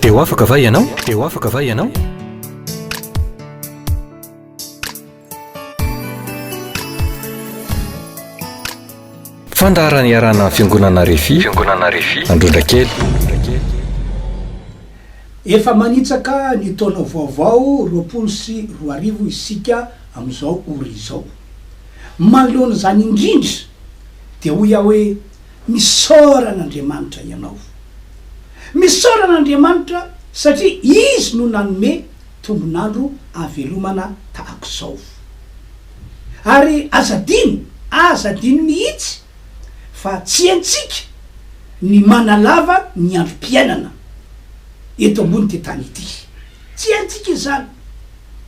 Dia ho afaka va ianao? Dia ho afaka va ianao? Fandaharana iarahana amin'ny Fiangonana Refi, Fiangonana Refi, Androndrakely. Efa manitsaka ny taona vaovao roapolo sy roa arivo isika amin'izao ora izao. Manoloana izany indrindra dia hoy aho hoe Misaora an'Andriamanitra ianao. Misaora an'Andriamanitra satria Izy no nanome tombon'andro ahavelomana tahaka izao. Ary aza adino, aza adino mihitsy fa tsy haintsika ny manalava ny androm-piainana eto ambonin'ity tany ity. Tsy haintsika izany.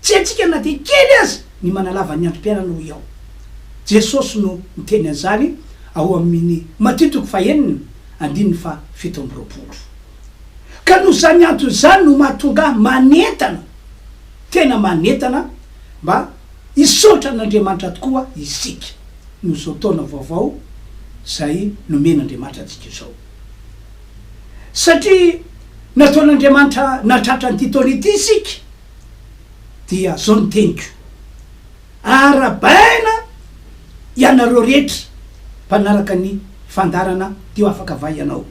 Tsy haintsika na dia kely aza ny manalava ny androm-piainana hoy aho. Jesosy no niteny an'izany ao amin'ny Matio toko fahenina andininy fahafito amby roapolo. Ka noho izany antony izany no mahatonga ahy manentana, tena manentana, mba hisaotra an'Andriamanitra tokoa isika noho izao taona vaovao izay nomen'Andriamanitra antsika izao. Satria nataon'Andriamanitra nahatratra an'ity taona ity isika, dia izao ny teniko. Arabaina ianareo rehetra mpanaraka ny fandaharana teo afaka va ianao?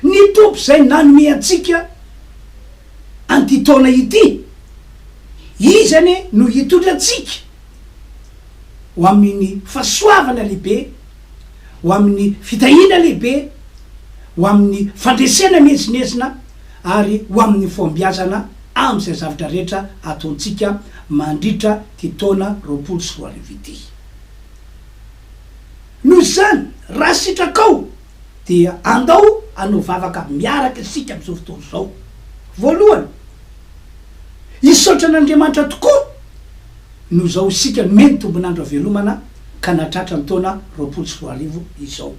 Ny Tompo izay nanome antsika an'ity taona ity, Izy anie no hitondra antsika ho amin'ny fahasoavana lehibe, ho amin'ny fitahiana lehibe, ho amin'ny fandresena miezinezina, ary ho amin'ny fahombiazana amin'izay zavatra rehetra ataontsika mandritra ity taona roapolo sy roa arivo ity. Noho izany, raha sitrakao, dia andao hanao vavaka miaraka isika amin'izao fotoana izao. Voalohany, hisaotra an'Andriamanitra tokoa noho izao isika nomeny tombon'andro havelomana ka nahatratra ny taona roapolo sy roa arivo izao.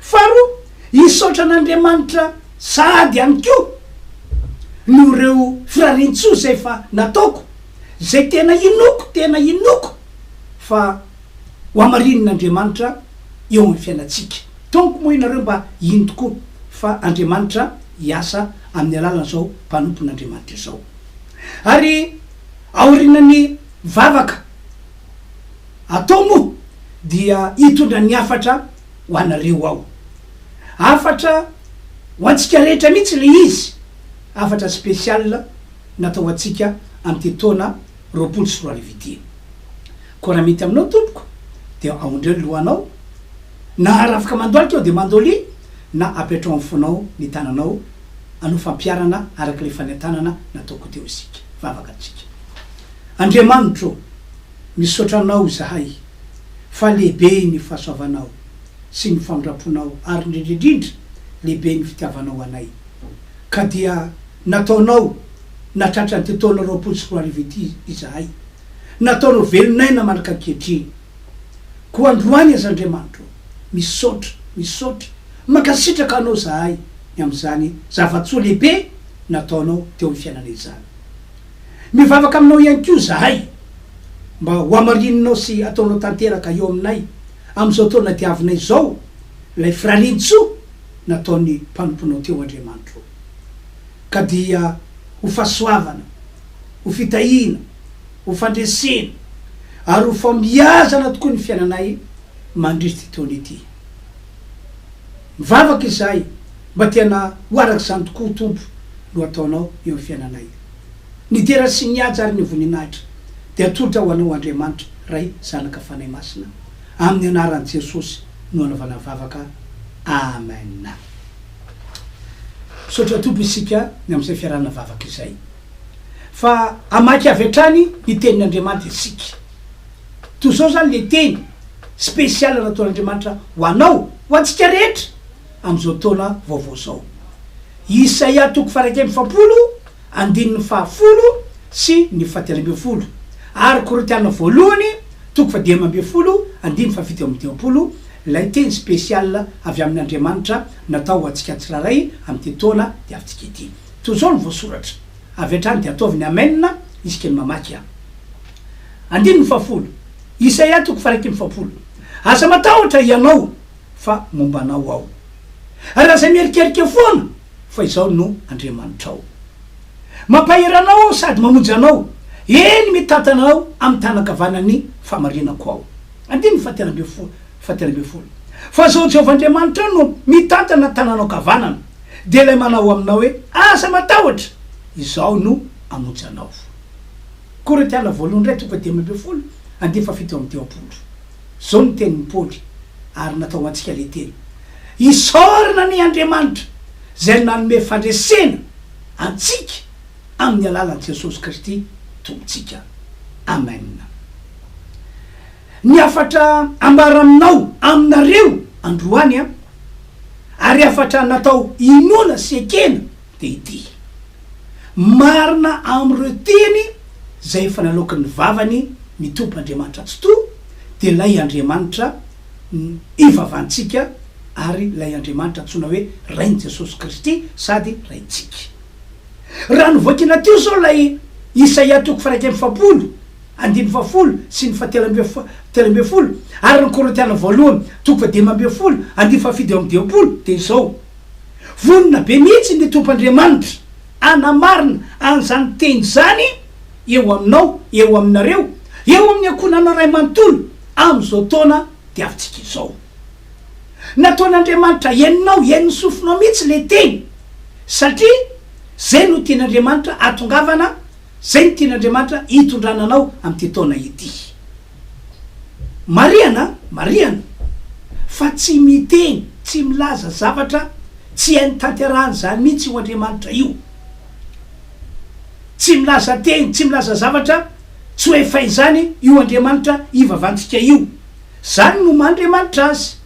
Faharoa, hisaotra an'Andriamanitra. Sahady ihany koa noho ireo firariantsoa izay efa nataoko, izay tena inoako, tena inoako fa ho hamarinin'Andriamanitra eo amin'ny fiainantsika. Tompoko moa ianareo mba hino tokoa fa Andriamanitra hiasa amin'ny alalan'izao mpanompon'Andriamanitra izao. Ary aorianan'ny vavaka atao moa dia hitondra ny hafatra ho anareo ao. Hafatra ho antsika rehetra mihitsy ilay izy, hafatra spécial natao ho antsika amin'ity taona roapolo sy roa arivo ity. Koa raha mety aminao tompoko dia aondreo ny lohanao, na arafaka mandohalika aho dia mandolia, na apetraho amin'ny fonao ny tananao hanao fampiharana araka ilay fanentanana nataoko teo isika, vavaka antsika. Andriamanitro o! Misaotra anao izahay fa lehibe ny fahasoavanao sy ny famindramponao ary indrindrindrindra lehibe ny fitiavanao anay ka dia nataonao nahatratra an'ity taona roapolo sy roa arivo ity izahay, nataonao velon'aina mandraka ankehitriny koa androany aza Andriamanitro ô! Misaotra, misaotra, mankasitraka anao izahay ny amin'izany zava-tsoa lehibe nataonao teo amin'ny fiainanay izany. Mivavaka aminao ihany koa izahay mba hohamarininao sy hataonao tanteraka eo aminay amin'izao taona diavina izao ilay firarian-tsoa nataon'ny mpanomponao teo Andriamanitro ô. Ka dia ho fahasoavana, ho fitahiana, ho fandresena ary ho famiazana tokoa ny fiainanay mandritry ity taona ity. Mivavaka izahay mba tena ho araka izany tokoa Tompo no ataonao eo amin'ny fiainanay. Ny dera sy ny haja ary ny voninahitra dia atolotra ho anao Andriamanitra Ray Zanaka Fanahy Masina amin'ny anaran'i Jesosy no anaovana vavaka Amen. Misaotra Tompo isika ny amin'izay fiarahana vavaka izay fa hamaky avy hatrany ny tenin'Andriamanitra isika. Toy izao izany ilay teny spécial nataon'Andriamanitra ho anao, ho antsika rehetra amin'izao taona vaovao izao. Isaia toko faha iraika amby efapolo andininy faha folo sy ny faha telo ambin'ny folo ary Korintiana voalohany toko faha dimy ambin'ny folo andininy faha fito amby dimampolo ilay teny spécial avy amin'Andriamanitra natao ho antsika tsirairay amin'ity taona diavintsika ity. Toy izao ny voasoratra. Avy hatrany dia ataovy ny Amen isika ny mamaky an. Andininy fahafolo, Isaia toko faharaika amby efapolo, Aza matahotra hianao, fa momba anao aho, ary aza mierikerika foana, fa izaho no Andriamanitrao. Mampahery anao aho sady mamonjy anao, eny, mitantana anao amin'ny tanan-kavanan'ny fahamarinako aho. Andininy fahatelo ambin'ny folo, Fahatelo ambin'ny folo, Fa izao Jehovah Andriamanitrao no mitantana ny tananao ankavanana, dia ilay manao aminao hoe, Aza matahotra, izaho no hamonjy anao. Korintiana voalohany iray toko dimy ambin'ny folo andinin'ny fahafito amin'ny dimampolo. Izao no tenin'i Paoly, ary natao ho antsika ilay teny, Isaorana anie Andriamanitra izay nanome fandresena antsika amin'ny alalan'i Jesosy Kristy Tompontsika. Amena. Ny hafatra ambara aminao, aminareo, androany an, ary hafatra natao hinoana sy ekena dia ity, Marina amin'ireo teny izay efa naloaky ny vavany ny Tompon'Andriamanitra Tsitoha, dia ilay Andriamanitra ivavantsika ary ilay Andriamanitra antsoina hoe Rain'i Jesosy Kristy sady Raintsika. Raha novakiana teo izao ilay Isaia toko faha-iraika amby efapolo, andininy fahafolo sy ny fahatelo amby telo ambin'ny folo ary ny Korintiana Voalohany toko fahadimy ambin'ny folo, andininy fahafito amby dimampolo dia izao, Vonona be mihitsy ny Tompoandriamanitra hanamarina an'izany teny izany eo aminao, eo aminareo, eo amin'ny ankohonana iray manontolo amin'izao taona diavintsika izao. Nataon'Andriamanitra henonao, henon'ny sofinao mihitsy ilay teny, satria izay no tian'Andriamanitra hahatongavana, izay no tian'Andriamanitra hitondrana anao amin'ity taona ity. Marihana, marihana, fa tsy miteny, tsy milaza zavatra tsy hainy tanterahana izany mihitsy io Andriamanitra io. Tsy milaza teny, tsy milaza zavatra tsy ho efa izany io Andriamanitra ivavantsika io. Izany no maha Andriamanitra Azy.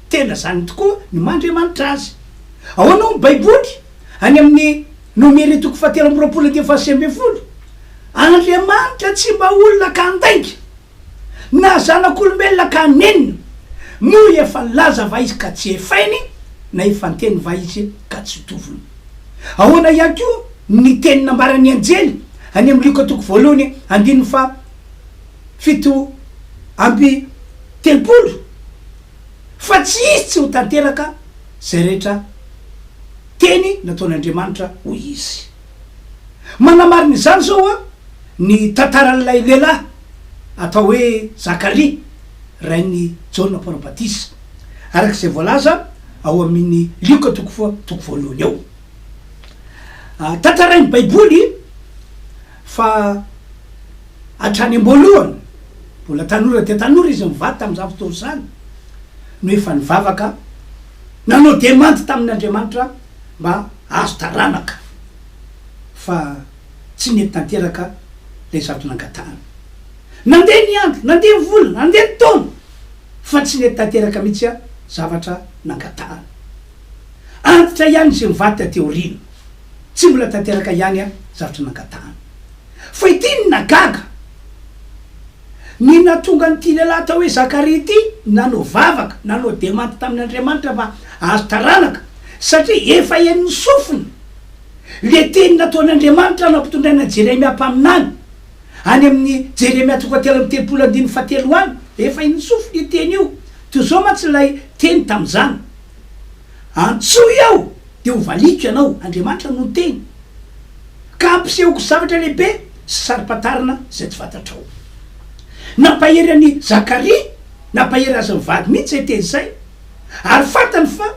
Tena izany tokoa ny maha Andriamanitra Azy. Ahoana hoy ny Baiboly any amin'ny. Nomere toko fahatelo amby roapolo andininy fahasivy ambin'ny folo, Andriamanitra tsy mba olona ka handainga, na zanak'olombelona ka hanenina, moa efa nilaza va Izy ka tsy hefainy, na efa niteny va Izy ka tsy tovony? Ahoana ihany koa ny teny nambaran'ny anjely any amin'ny Lioka toko voalohany andininy faha fito amby telopolo, fa tsy hisy tsy ho tanteraka izay rehetra Teny nataon'Andriamanitra, hoy izy. Manamarina izany izao ny tantaran'ilay lehilahy atao hoe Zakaria, rain'i Jaona Mpaminany Batisa, araka izay voalaza ao amin'i Lioka toko fa toko voalohany ao. Tantarain'ny Baiboly fa hatrany am-boalohany, mbola tanora dia tanora izy, mivady tamin'izany fotoana izany, no efa nivavaka. Nanao demandy tamin' Andriamanitra mba hahazo taranaka, fa tsy nety tanteraka ilay zato nangatahany. Nandeha ny andro, nandeha ny volana, nandeha ny taona, fa tsy nety tanteraka mihitsy zavatra nangatahany. Antitra ihany izay mivady taty aoriana, tsy mbola tanteraka ihany zavatra nangatahany. Fa ity no nagaga. Ny nahatonga an'ity lehilahy atao hoe Zakaria ity nanao vavaka, nanao demanty tamin'Andriamanitra fa hahazo taranaka, satria efa henon'ny sofiny ilay teny nataon'Andriamanitra nampitondraina an'i Jeremia mpaminany, any amin'ny Jeremia toko telo amby telopolo andininy fahatelo any, efa henon'ny sofiny io teny io, toy izao mantsy ilay teny tamin'izany, Antsoy aho dia ho valiako ianao, Andriamanitra no niteny, ka hampisehoko zavatra lehibe sy saro-pantarina izay tsy fantatrao. Nampahery an'i Zakaria, nampahery azy mivady mihitsy izay teny izay, ary fantany fa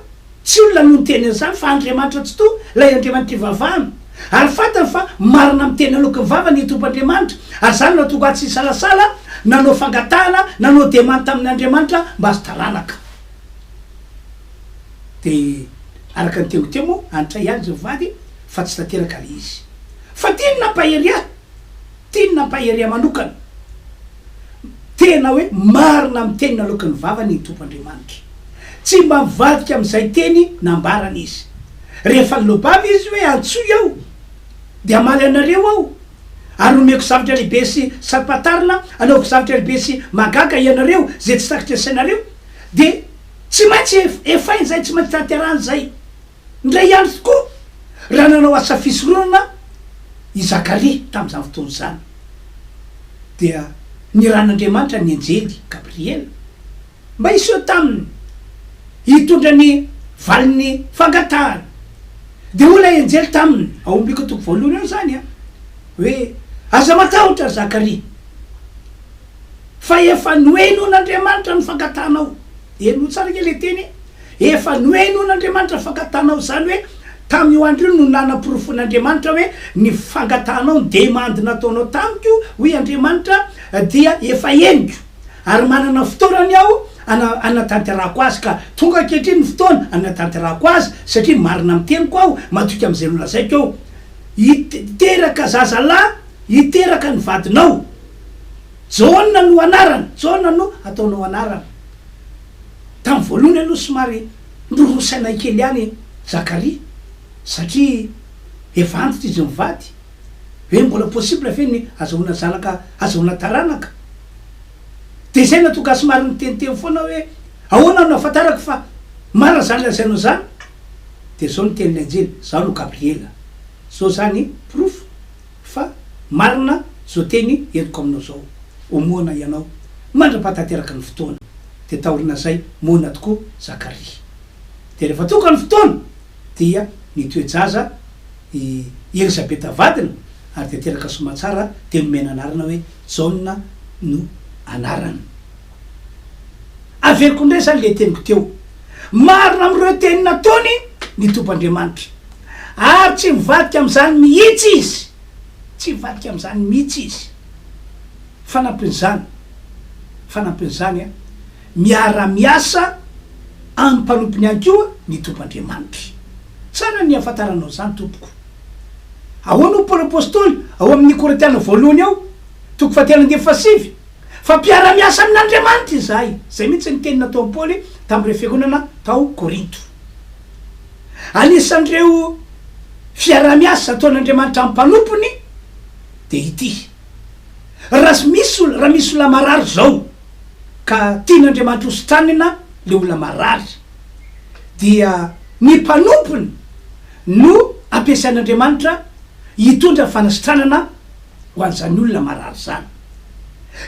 tsy olona no niteny an'izany fa Andriamanitra tsitoha, ilay Andriamanitr'ivavahana, ary fantany fa marina amin'ny teny naloaky ny vavany ny Tompoandriamanitra, ary izany no nahatonga azy tsy nisalasala nanao fangatahana, nanao demande tamin'Andriamanitra mba azo taranaka. Dia araka ny teo ho teo moa anitray ihany ireo vady fa tsy tanteraka ilay izy. Fa tiany nampahery ahy, tiany nampahery ahy manokana. Tena hoe marina amin'ny teny naloaky ny vavany ny Tompo Andriamanitra. Tsy mba mivadika amin'izay teny nambarany izy. Rehefa nilobava izy hoe antsoy aho dia hamaly anareo aho ary homeko zavatra lehibe sy sampatarina, hanaovako zavatra lehibe sy mahagaga ianareo izay tsy takatry ny sainareo, dia. Tsy maintsy ef, efainy izay, tsy maintsy tanterahina izay. Indray andro tokoa, raha nanao asa fisoronana i Zakaria tamin'izany fotoana izany, dia nirahin'Andriamanitra ny anjely Gabriela mba hiseho taminy hitondra ny valin'ny fangatahany. Dia hoy ilay anjely taminy, ao amin'ny Lioka toko voalohany ao izany an, hoe, Aza matahotra, ry Zakaria. Fa efa nohenoin'Andriamanitra ny fankatanao. Henoy tsara ange ilay teny e! Efa nohenoin'Andriamanitra ny fankatanao, izany hoe tamin'io andro io no nanaporofoin'Andriamanitra hoe ny fankatanao, ny demandy nataonao tamiko, hoy Andriamanitra, dia efa henoko, ary manana fotoanany aho hana, hanatanterahako azy. Ka tonga ankehitriny ny fotoana hanatanterahako azy, satria marina amin'ny teniko aho, matoky amin'izay nolazaiko aho. Hit, hiteraka zazalahy, hiteraka ny vadinao. Jaona no anarany, Jaona no ataonao anarana. Tamin'ny voalohany aloha somary norosainay kely ihany i Zakaria satria efa antitra izy mivady hoe mbola possible ve ny azahoana zanaka, azahoana taranaka. Dia izay no nahatonga ahy somary niteniteny foana hoe ahoana no ahafantarako fa marina izany lazainao izany? Dia izao ny tenin'ny anjely, Izaho no Gabriela. Izao izany porofo Fa marina zao teny henoko aminao zao ho moana ianao mandrapahatanteraka ny fotoana de taorinazay moana tokoa Zakaria de refa tonga ny fotoana dia ny toe-jaza i Elisabeta vadiny ary de teraka somatsara de nomena anarana hoe Jaona no anarany. Averiko indray izany ilay teniko teo. Marina amin'ireo teny nataony ny Tompoandriamanitra. Ary tsy mivadika amin'izany mihitsy Izy. Tsy mivadika amin'izany mihitsy Izy. Fanampin'izany, fanampin'izany, miara-miasa amin'ny mpanompony ihany koa ny Tompoandriamanitra. Tsara ny hahafantaranao izany, tompoko. Ahoana hoy Paoly Apostoly ao amin'ny Korintiana Voalohany ao, toko fahatelo ambin'ny folo sy sivy? Fa mpiara-miasa amin'Andriamanitra izahay. Izay mihitsy ny teny nataon'i Paoly tamin'ireo fiangonana tao Korinto. Anisan'ireo fiaraha-miasa ataon'Andriamanitra amin'ny mpanompony dia ity, Raha misy olona, raha misy olona marary izao, ka tian'Andriamanitra hositranina ilay olona marary, dia ny mpanompony no ampiasain'Andriamanitra hitondra fanasitranana ho an'izany olona marary izany.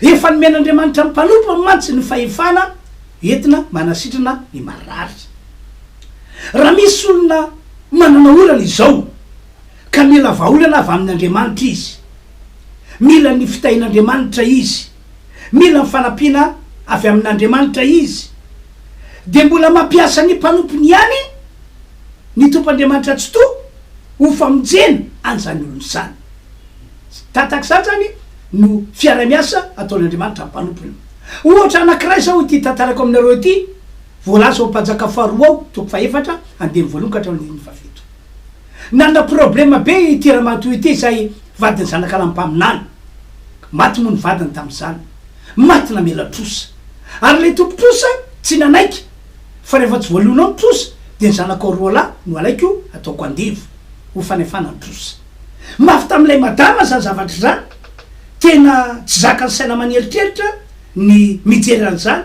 Efa nomen'Andriamanitra mpanompo mantsy ny fahefana entina manasitrana ny marary. Raha misy olona manana olana izao ka mila vahaolana avy amin'Andriamanitra izy, mila ny fitahian'Andriamanitra izy, mila ny fanampiana avy amin'Andriamanitra izy, dia mbola mampiasa ny mpanompony ihany ny Tompo Andriamanitra Tsitoha ho famonjena an'izany olona izany. Tsy tatak' satrany no fiaraha-miasa ataon' Andriamanitra amin' ny mpanompony. Ohatra anankiray izao ity tantarako aminareo ity, voalaza ao Mpanjaka faharoa ao, toko fahefatra, andininy voalohany ka hatramin' ny andininy fahafito. Nanana problema be ity ramatoa ity izay vadin' ny zanaka lahy mpaminany. Maty moa ny vadiny tamin' izany. Maty namela trosa. Ary ilay tompon' trosa tsy nanaiky fa rehefa tsy voaloana ao ny trosa dia ny zanakao roa lahy no alaiko ataoko andevo ho fanefana ny trosa. Mafy tamin'ilay madama izany zavatra izany. Tena tsy zakan'ny saina aman'eritreritra ny mijery an'izany.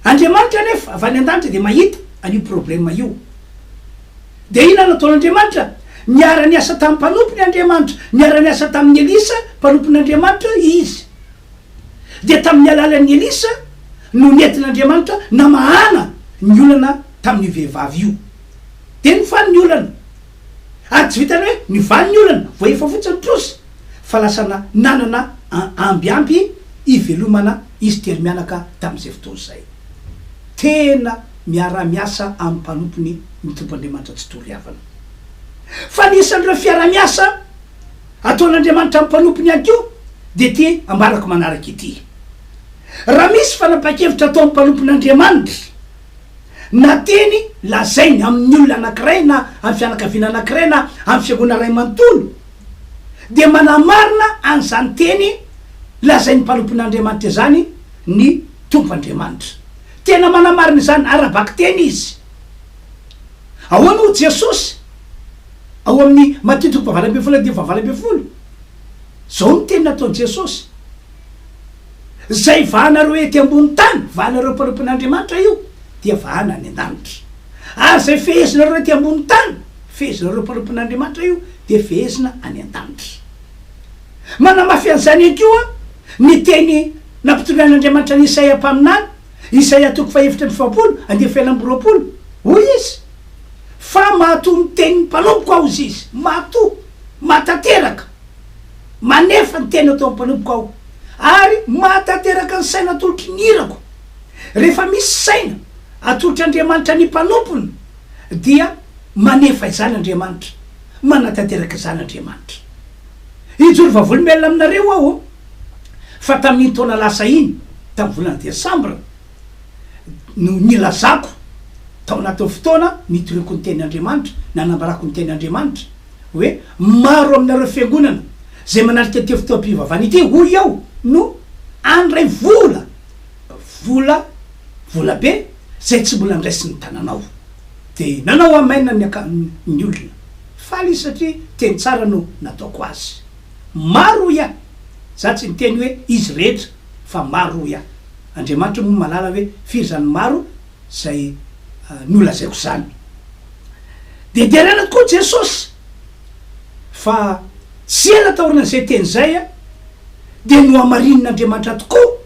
Andriamanitra anefa avy any an-danitra dia mahita an'io problème io. Dia inona no ataon'Andriamanitra? Niara-niasa tamin'ny mpanompony Andriamanitra. Niara-niasa tamin'i Elisa mpanompon'Andriamanitra Izy. Dia tamin'ny alalan'i Elisa no nentin'Andriamanitra namahana ny olana tamin'io vehivavy io. Dia nifaly ny olana. Ary tsy vitan'ny hoe nivaly ny olana, voahefa fotsiny ny trosa, fa lasa nanana ambiamby hivelomana izy tery mianaka tamin'izay fotoana izay. Tena miara-miasa amin'ny mpanompony ny Tompon'Andriamanitra tsy tory havana. Fa ny isan'ireo fiara-miasa ataon'Andriamanitra amin'ny mpanompony ihany koa dia ity ambarako manaraka ity, Raha misy fanapahan-kevitra atao amin'ny mpanompon'Andriamanitra, na teny lazainy amin'ny olona anankiray na amin'ny fianakaviana anankiray na amin'ny fiangonana iray manontolo, dia manamarina an'izany teny lazain'ny mpanompon'Andriamanitra izany ny Tompo Andriamanitra. Tena manamarina izany ara-bakiteny izy. Ahoana hoy Jesosy ao amin'ny Matia toko fahavalo ambin'ny folo andininy fahavalo ambin'ny folo? Izao no teny nataon'i Jesosy. Izay vahanareo ety ambony tany, vahanareo mpanompon'Andriamanitra io, dia vahana any an-danitra. Ary izay fehezinareo ety ambony tany, fehezinareo mpanompon'Andriamanitra io, dia fehezina any an-danitra. Manamafy an'izany ihany koa ny teny nampitondrain'Andriamanitra an'i Isaia mpaminany, Isaia toko fahefatra amby efapolo, andiany fahenina amby roapolo. Hoy izy, Fa mahatoa ny tenin'ny mpanompoko aho, hoy Izy, mahatoa, mahatanteraka. Manefa ny tena atao ny mpanompoko aho ary mahatanteraka ny saina atolotry ny irako. Rehefa misy saina atolotr' Andriamanitra ny mpanompony dia manefa izany Andriamanitra, manatanteraka izany Andriamanitra. Hijoro vavolombelona aminareo aho fa tamin'iny taona lasa iny, tamin'ny volana desambra, no nilazako tao anatin'ny fotoana nitoriako ny tenin' Andriamanitra, nanambarako ny tenin' Andriamanitra, hoe, Maro aminareo fiangonana izay manalika ity fotoam-pivavahana ity, hoy aho, no handray vola, vola, vola be, izay tsy mbola niraisin'ny tananao. Dia nanao Amen ny akaniny ny olona. Faly izy satria teny tsara no nataoko azy. Maro hoy aho. Izaho tsy niteny hoe izy rehetra, fa maro hoy aho. Andriamanitra moa malala hoe firy izany maro. izay nolazaiko izany. Dia deraina tokoa Jesosy, fa tsy ela taorian'izay teny izay dia nohamarinin'Andriamanitra tokoa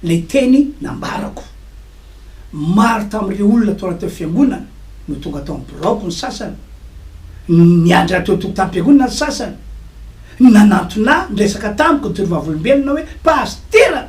ilay teny nambarako. Maro tamin'ireo olona tao anatin'ilay fiangonana no tonga tao amin'ny biraoko ny sasany, niandry ahy teo an-tokotanim-piangonana ny sasany, nanantona ahy, niresaka tamiko ny Toriovavolombelona hoe, Pasitera!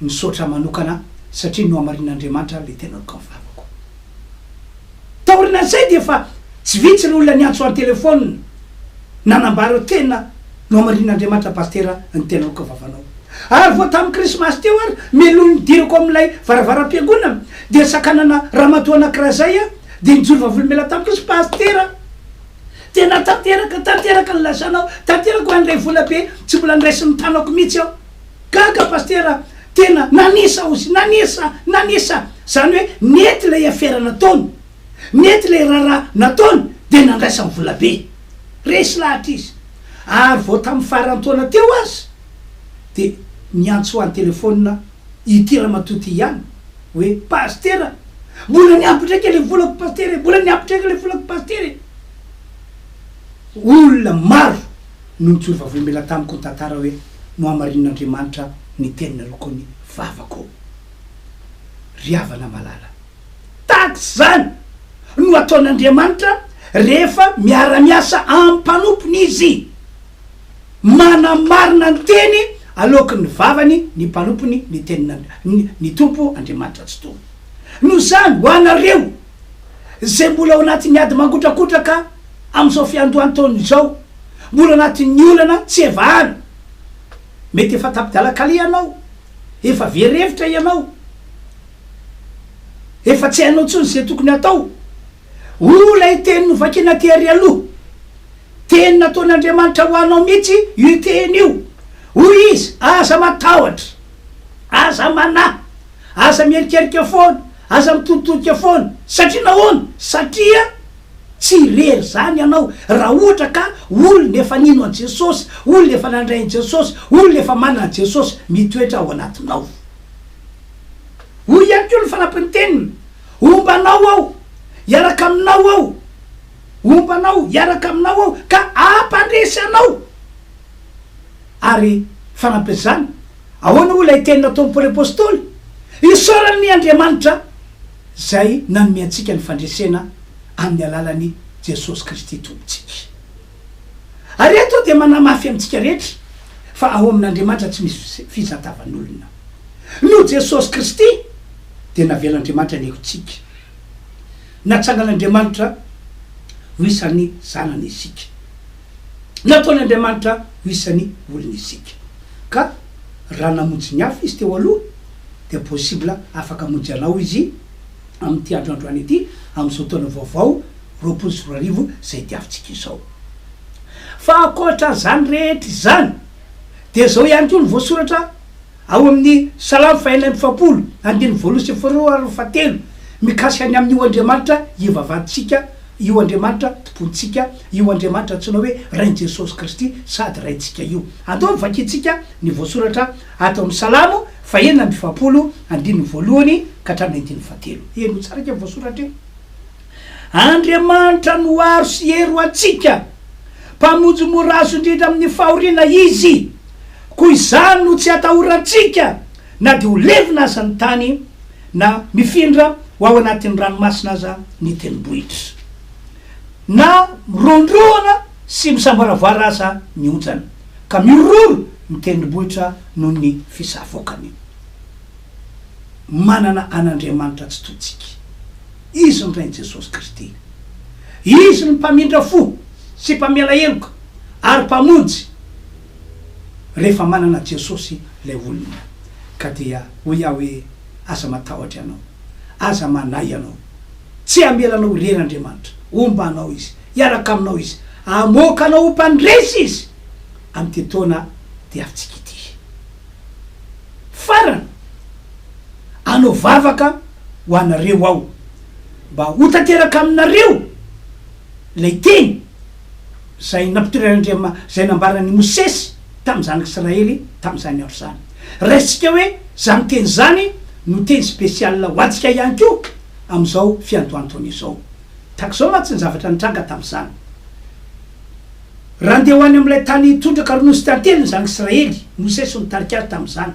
Misaotra manokana satria nohamarinin'Andriamanitra le tena nokanfamako. Taorinan'izay dia efa tsy vitsy ireo olona niantso ahy an-telephone nanambara hoe tena nohamarinin'Andriamanitra Pastera ny tena nokavavanao. Ary vao tamin'ny krismasy teo ary melohin'ny nidirako amin'ilay varavaram-piangonana dia sakanana ramatoa anankiray zay aho dia nijoro vavolombelona tamiko izy, Pastera! Tena tanteraka, tanteraka ny lasanao, tanteraka hoe handray vola be tsy mbola niraisin'ny tanako mihitsy aho. Gaga Pasitera tena nanisa ozy nanisa nanisa zany hoe nety ilay afera nataony nety ilay raharaha nataony dia nandraisany volabe resy lahatra izy ary vao tamin'ny faran'ny taona teo aza dia niantso an telefonina ity ramatoa ity ihany hoe Pasitera mbola niampy ndraika ilay volako Pasitera e mbola niampy ndraika ilay volako Pasitera e olona maro no nitsorovavoembela tamiko ny tantara hoe nohamarinin'Andriamanitra ny teninareo koa ny vavako ô! Ry havana malala, tahaka izany no ataon'Andriamanitra rehefa miara-miasa amin'ny mpanompony Izy. Manamarina ny teny aloaky ny vavany ny mpanompony ny tenin'ny Tompo Andriamanitra Tsitoha. Noho izany, ho anareo izay mbola ao anatin'ny ady mangotrakotraka amin'izao fiandohan-taona izao, mbola anatin'ny olana tsy evahana. Mety efa tapi-dalan-kaleha ianao, efa very hevitra ianao, efa tsy hainao intsony izay tokony hatao. Hoy ilay teny novakina tery aloha, teny nataon'Andriamanitra ho anao mihitsy io teny io. Hoy Izy, Aza matahotra, aza manahy, aza miherikerika foana, Aza mitoditodika foana. Satria nahoana? Satria tsy irery izany ianao. Raha ohatra ka olona efa nino an'i Jesosy, olona efa nandray an'i Jesosy, olona efa manana an'i Jesosy mitoetra ao anatinao. Hoy ihany koa ny fanampin'ny teniny, Homba anao aho, hiaraka aminao aho, homba anao, hiaraka aminao aho, ka hampandresy anao. Ary fanampin'izany, Ahoana hoy ilay teny nataon'i Paoly Apostoly? Isaorana anie Andriamanitra izay nanome antsika ny fandresena amin'ny alalan'i Jesosy Kristy Tompontsika. Ary eto aho dia manamafy amintsika rehetra fa ao amin'Andriamanitra tsy misy fizatavan'olona. Noho Jesosy Kristy dia navelan'Andriamanitra ny helotsika. Natsangan'Andriamanitra ho isan'ny zanany isika. Nataon'Andriamanitra ho isan'ny olony isika. Ka raha namonjy ny hafa Izy teo aloha, dia possible afaka hamonjy anao Izy amin'ity andro androany ity, amin'izao taona vaovao roapolo sy roa arivo izay diavintsika izao. Fa ankoatra an'izany rehetra izany, dia izao ihany koa no voasoratra. Ao amin' ny Salamo fahenina amby efapolo, andininy voalohany sy faharoa ary fahatelo, mikasika ny amin' io Andriamanitra ivavantsika io, Andriamanitra Tompontsika io, Andriamanitra antsoina hoe Rain'i Jesosy Kristy sady Raintsika io. Andao no vakintsika ny voasoratra ato amin' ny Salamo fahenina amby efapolo, andininy voalohany ka hatramin' ny andininy fahatelo. Henoy tsara io voasoratra io. Andriamanitra no aro sy hery ho antsika, Mpamonjy mora azo indrindra amin'ny fahoriana Izy. Koa izany no tsy atahorantsika na dia ho levona aza ny tany, na mifindra ho ao anatin'ny ranomasina aza ny tendrombohitra, na mirondrona sy misamboaravoara aza ny onjany, ka mihorohoro ny tendrombohitra noho ny fisavoakany. manana an'Andriamanitra tsy tohintsika. Izy ny Rain'i Jesosy Kristy. Izy ny Mpamindra fo sy Mpamela heloka ary Mpamonjy. Rehefa manana Jesosy ilay olona, ka dia hoy aho hoe, Aza matahotra ianao. Aza manahy ianao. Tsy hamela anao irery Andriamanitra. Homba anao Izy. Hiaraka aminao Izy. Hamoaka anao ho mpandresy Izy. Amin'ity taona diavintsika ity. Farany, hanao vavaka ho anareo aho, mba ho tanteraka aminareo ilay teny izay nampitreran'Andriama-, izay nambaran'i Mosesy tamin'ny zanak'Israely tamin'izany andro izany. Raisintsika hoe izany teny izany no teny spécial ho antsika ihany koa amin'izao fiandohan'ny taona izao. Tahaka izao mantsy ny zavatra nitranga tamin'izany. Raha ndeha ho any amin'ilay tany tondraka ronono sy tantely ny zanak'i Israely, i Mosesy no nitarika azy tamin'izany.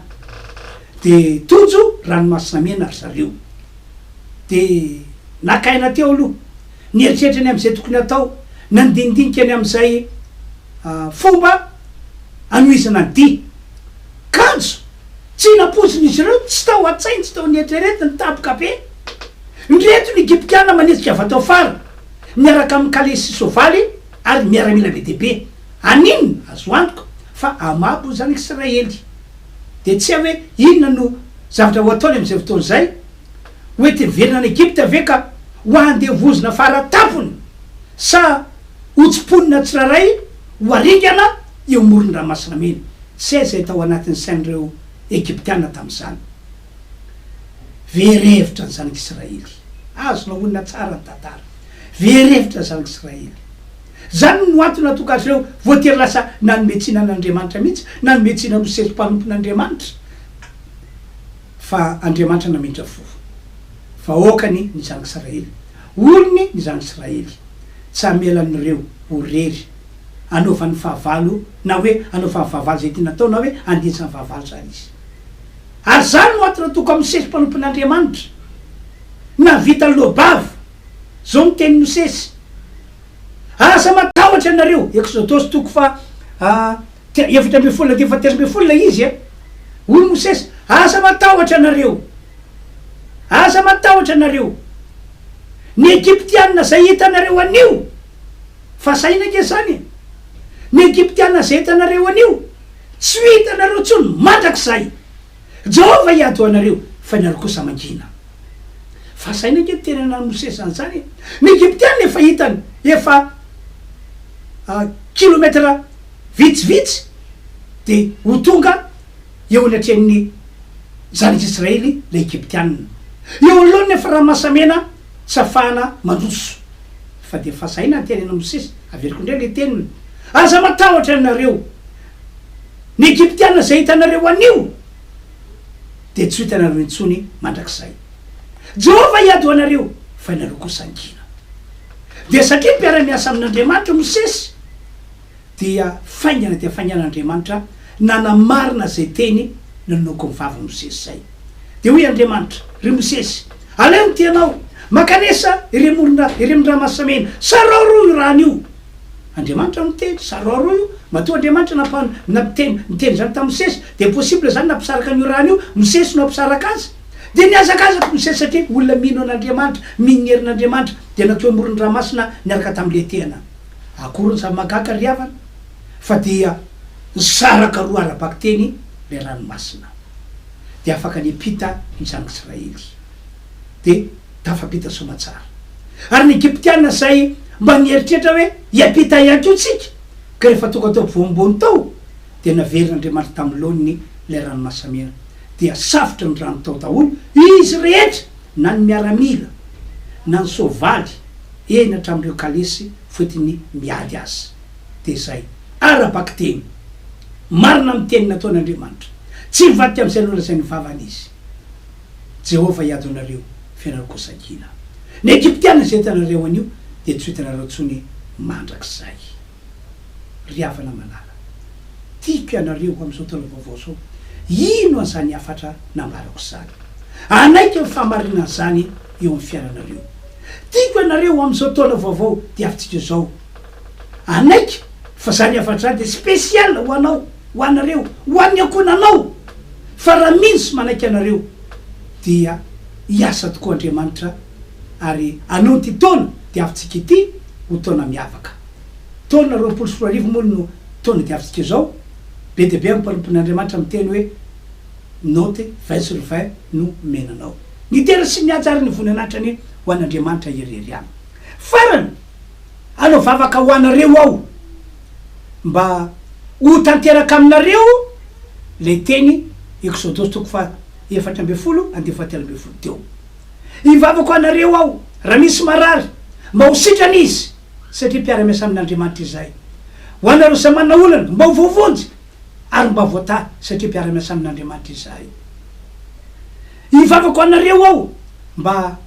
Dia tojo Ranomasina Mena ry zareo. Dia naka aina teo aloha. Nieritreritra ny amin'izay tokony hatao. Nandinidinika ny amin'izay fomba hanohizana ny dihy. Kanjo, tsy nampoizina izy ireo, tsy tao an-tsainy, tsy tao an'eritreretiny, tampoka be. Indreto ny Egyptiana manetsika vatoafara miaraka amin'ny kalesy sy soavaly. Ary miaramila be dia be. Amin, azo antoka fa hamabo ny Zanak'Israely. Dia tsy hay hoe inona no zavatra ho ataony amin'izay fotoana izay. Hoenti-miverina any Egypta ve ka ho handevozina fara tampony, sa hotsimponina tsirairay ho haringana eo amoron'ny Ranomasina Mena? Tsy hay izay tao anatin'ny sain'ireo Egyptiana tamin'izany. Very hevitra ny zanak'Israely. Azonao onona tsara ny tantara. Very hevitra ny zanak'Israely. Izany no antony nahatonga azy ireo voatery lasa nanome tsiny an'Andriamanitra mihitsy, nanome tsiny an'io sesy mpanompon'Andriamanitra fa andriamanitra namindrany fo. Vahoakany ny zanak'Israely. Olony ny zanak'Israely. Tsy hamela an'ireo ho irery anaovany fahavalo na hoe anaovany fahavalo izay tiany atao na hoe andintsany fahavalo izany izy. Ary izany no antony atoko amin'ny Mosesy mpanompon'Andriamanitra. Nahavita ny loha-bava. Izao no tenin'i Mosesy, Aza matahotra ianareo, Eksodosy toko faha efatra ambin'ny folo andininy fahatelo ambin'ny folo ilay izy e. Hoy i Mosesy, Aza matahotra ianareo. Aza matahotra ianareo. Ny Egyptiana izay hitanareo anio, fa sahina ange izany e. Ny Egyptiana izay hitanareo anio. Tsy ho hitanareo intsony mandrakizay Jehovah hiady ho anareo, fa ianareo kosa mangina. Fa asaina ange ny tenany an'i Mosesy an'izany e! Ny Egyptiana efa hitany efa kilometatra vitsivitsy dia ho tonga eo anatrehan'ny zanak'Israely ilay Egyptiana. Eo anoloany ny efa ranomasamena. Tsy afahana mandroso fa dia fazaina ny teny an'i Mosesy, averiko indray ilay teniny, Aza matahotra ianareo, ny Egyptiana izay hitanareo anio dia tsy ho hitanareo intsony mandrakizay. Jehovah hiady ho anareo fa ianareo kosa angina. Dia satria mpiara-miasa amin'Andriamanitra Mosesy, dia faingana dia faingana Andriamanitra nanamarina izay teny nanonoky ny vaviny Mosesy izay. Dia hoy Andriamanitra, Ry Mosesy, aleo ny tianao, mankanesa irem olona irem ny ramasamena, saraoroy io rano io. Andriamanitra no niteny, saraoroy io, matoa Andriamanitra nampan nampiteny niteny izany tamin'i Mosesy, dia possible izany nampisaraka an'io rano io, Mosesy no hampisaraka azy. Dia nihazakazaka Mosesy satria olona mino an'Andriamanitra, mino ny herin'Andriamanitra, dia natoy amoron'ny ranomasina niaraka tamin'ny letehana. Akory ny zava-mahagaga ry havana fa dia nisaraka roa ara-bakiteny ilay ranomasina dia afaka niampita ny zanak'Israely dia tafampita soamatsara ary ny Egyptiana izay mba nieritreritra hoe hiampita ihany koa tsika ka rehefa tonga teo ampovoambony tao dia naverin'Andriamanitra tamin'ny laoniny ilay ranomasamena dia safotra ny rano tao daholo izy rehetra na ny miaramila na ny soavaly eny hatramin'ireo kalesy foetiny miady aza. Dia izay. Ara-bakiteny. Marina amin'ny teny nataon'Andriamanitra. Tsy hivadika amin'izay nolazain'ny vavany Izy. Jehovah hiady anareo, fa ianareo kosa ankina. Ny Egyptiana izay hitanareo anio, dia tsy ho hitanareo intsony mandrakizay. Ry havana malala. Tiako ianareo amin'izao taona vaovao izao. Ino an'izany hafatra nambarako izany. Hanaiky ny fahamarinan'izany eo amin'ny fiainanareo. Tiako ianareo amin'izao taona vaovao diavintsika izao. Hanaiky fa izany hafatra izany dia spécial ho anao, ho anareo, ho an'ny ankohonanao. Fa raha mino sy manaiky ianareo dia hiasa tokoa Andriamanitra ary hanao ity taona diavintsika ity ho taona miavaka. Taona roapolo sy roa arivo moa no taona diavintsika izao. Be dia be amin'ny mpanompon'Andriamanitra miteny hoe, Note vingt sur vingt no omena anao. Ny tena sy ny haja ary ny voninahitra anie ho an'Andriamanitra irery ihany. Farany, hanao vavaka ho anareo aho mba ho tanteraka aminareo ilay teny Eksodosy toko faha efatra ambin'ny folo andinin'ny faha telo ambin'ny folo teo. Hivavaka ho anareo aho raha misy marary mba ho sitrana izy. satria mpiara-miasa amin'Andriamanitra izahay. Ho anareo samy manana olana, mba ho voavonjy ary mba voatahy, satria mpiara-miasa amin'Andriamanitra izahay. Hivavaka ho anareo aho mba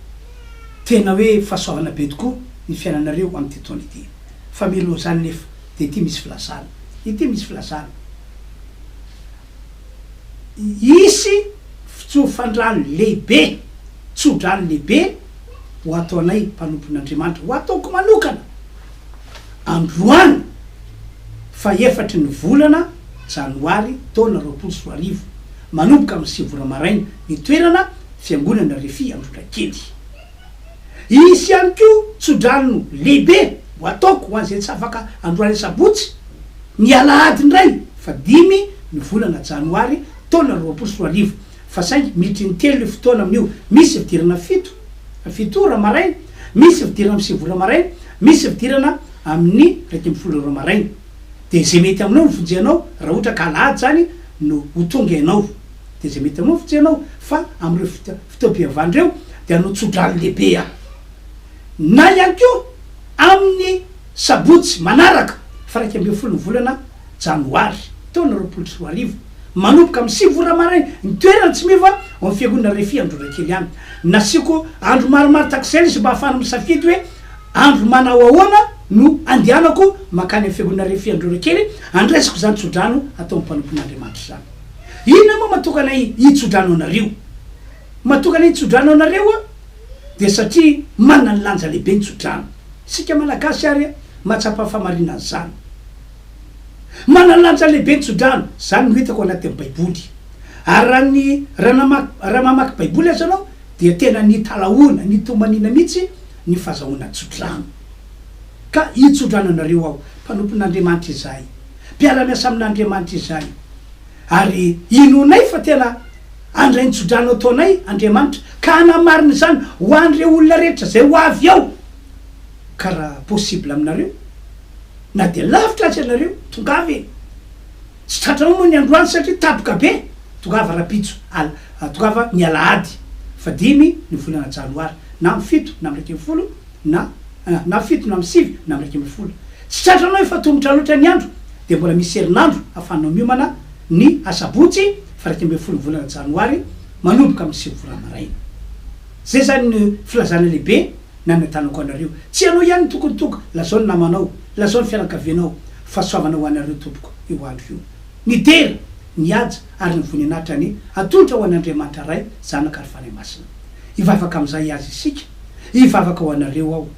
tena hoe fahasoavana be tokoa ny fiainanareo amin'ity taona ity. Fa mialoha izany nefa dia ity misy filazana, ity misy filazana. Hisy fitsofandrano lehibe, tsodrano lehibe. ho ato anay mpanompon'Andriamanitra, ho ataoko manokana, androany fahefatry ny volana janoary taona roapolo sy roa arivo, manomboka amin'ny sivy ora maraina, ny toerana, Fiangonana Refi Androtrakely. Hisy ihany koa tsodrano lehibe ho ataoko ho an'izay tsy afaka androany asabotsy, ny alahady indray, fahadimy ny volana janoary taona roapolo sy roa arivo. Fa saingy miditra intelo io fotoana amin'io, misy fidirana fito, fito ora, maraina, misy fidirana amin'ny sivy ora maraina, misy fidirana amin'ny iraika ambin'ny folo ora maraina. Dia izay mety aminao no vonjeanao, raha ohatra ka alahady izany no ho tonga ianao, dia izay mety aminao no vonjeanao. Fa amin'ireo foto, fotoam-pivavahana ireo dia hanao tso-drano lehibe aho. Na ihany koa amin'ny sabotsy manaraka, faraika ambin'ny folon'ny volana, janoary taona roapolo sy roa arivo, manomboka amin'ny sivy ora maraina, ny toerana tsy miova ao amin'ny Fiangonana Refi Androrakely any. Nasiako andro maromaro tahak'izay ilay izy mba hahafahana misafidy hoe andro manao ahoana no andehanako mankany amin'ny Fiangonana Refi Androrakely handraisako izany tsodrano ataon'ny mpanompon'Andriamanitra izany. Inona moa matokana hitsodrano anareo? Matokana hitsodrano anareo aho dia satria manana ny lanja lehibe ny tsodrano. Isika Malagasy ary mahatsapa ny fahamarinan'izany. Manalanja lehibe ny tsodrano, izany no hitako anatin'ny baiboly. Ary raha ny raha namaky raha mamaky baiboly aza ianao dia tena nitalahoana, nitomaniana mihitsy ny fazahoana tsodrano. Ka hitsodrano anareo aho, mpanompon'Andriamanitra izahay, mpiara-miasa amin'Andriamanitra izahay, ary inoanay fa tena handray ny tsodrano ataonay Andriamanitra, ka hanamarina izany ho an'ireo olona rehetra izay ho avy ao, ka raha possible aminareo, Na dia lavitra aza ianareo, tongava e! Tsy tratranao moa ny androany satria tapoka be! Tongava rapitso, al, tongava ny alahady fa dimy ny volana janoary, na amin'ny fito na amin'ny iraika ambin'ny folo na, an, na fito na amin'ny sivy na amin'ny iraika ambin'ny folo. Tsy tratranao efa tomotra loatra ny andro dia mbola misy herinandro ahafahanao miomana ny asabotsy fa iraika ambin'ny folo ny volana janoary manomboka amin'ny sivy ora maraina. Izay izany ny filazana lehibe. Nanantanako anareo. Tsy ianao ihany no tokony tonga. Lazao ny namanao. Lazao ny fianakavianao. Fahasoavana ho anareo tompoko io andro io. Ny dera, ny haja ary ny voninahitra anie atolotra ho an'Andriamanitra Ray, Zanaka ary Fanahy Masina. Hivavaka amin'izay hihaza isika. Hivavaka ho anareo aho.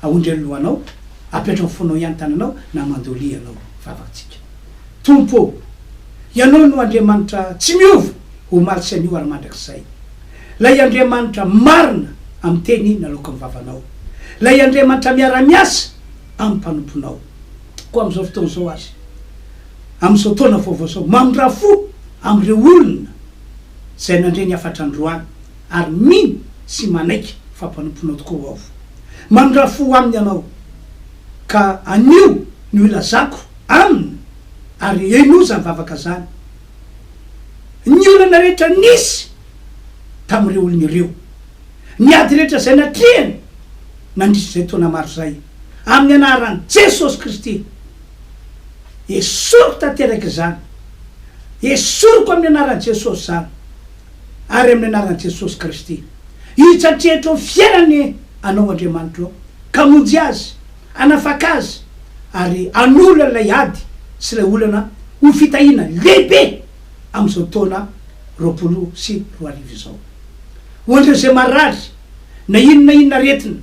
Aondry ny lohanao. Apetraho ny fonao ihany tananao na mandolia ianao. Vavakantsika. Tompo ô! Ianao no Andriamanitra tsy miova, omaly sy anio ary mandrakizay. Ilay Andriamanitra marina amin'ny teny naloaky amin'ny vavanao. Ilay Andriamanitra miara-miasa amin'ny mpanomponao. Koa amin'izao fotoana izao aza, amin'izao taona vaovao izao, mamindrà fo amin'ireo olona izay nandre ny hafatra androany ary mino sy manaiky fa mpanomponao tokoa ho'aho. Mamindrà fo aminy ianao, ka anio ny ho ilazako aminy ary henoy izany vavaka izany. ny olana rehetra nisy tamin'ireo olona ireo, ny ady rehetra izay natrehiny nandritra izay taona maro izay, amin'ny anaran'i Jesosy Kristy. Esoriko tanteraka izany. Esoriko amin'ny anaran'i Jesosy izany, ary amin'ny anaran'i Jesosy Kristy. Hitsatrehitrao fiainany Anao Andriamanitro, ka monjy azy. Hanafaka azy ary hanolo an'ilay ady sy ilay olana ho fitahiana lehibe amin'izao taona roapolo sy roa arivo izao. Ho an'ireo izay marary, na inona na inona aretina,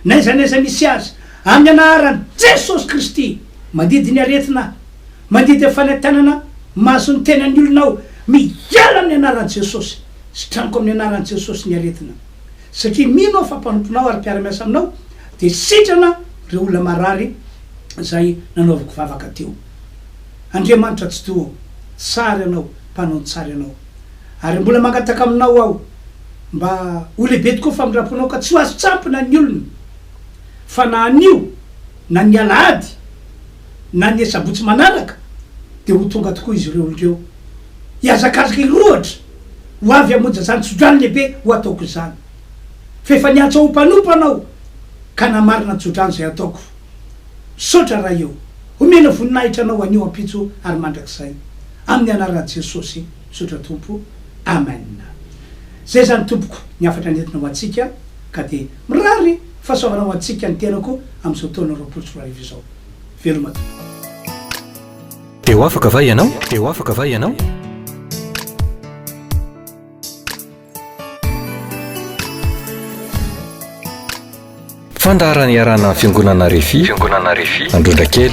na aiza na aiza misy azy, amin'ny anaran'i Jesosy Kristy, mandidy ny aretina aho, mandidy ny fanentanana mahazo ny tenan'ny olona aho, miala amin'ny anaran'i Jesosy, sitranoka amin'ny anaran'i Jesosy ny aretina, Satria mino aho fa mpanomponao ary mpiara-miasa aminao, dia sitrana ireo olona marary izay nanaovako vavaka teo. Andriamanitra Atsitoha ô, tsara Ianao, mpanao ny tsara Ianao. Ary mbola mangataka Aminao aho mba ho lehibe tokoa famindram-ponao ka tsy ho azo tsampina ny olona, fa na anio na ny alahady na ny asabotsy manaraka dia ho tonga tokoa izy ireo indreo, hihazakazaka hirohotra Ho avy hamonjy izany tsodrano lehibe ho ataoko izany. Fa efa niantso ahy ho mpanompana aho, ka namarina ny tsodrano izay hataoko. Misaotra Ray ô! Homena voninahitra Anao anio, ampitso ary mandrakizay. Amin'ny Anaran'i Jesosy, misaotra Tompo. Amen. Izay izany Tompoko ny hafatra nentina ho antsika, ka dia mirary fahasoavana ho antsika ny tenako amin'izao taona roapolo sy roa arivo izao. Veloma Tompo. Dia ho afaka va ianao? Dia ho afaka va ianao? Fandaharana iarahana amin'ny Fiangonana Refi, Fiangonana Refi, Androndrakely.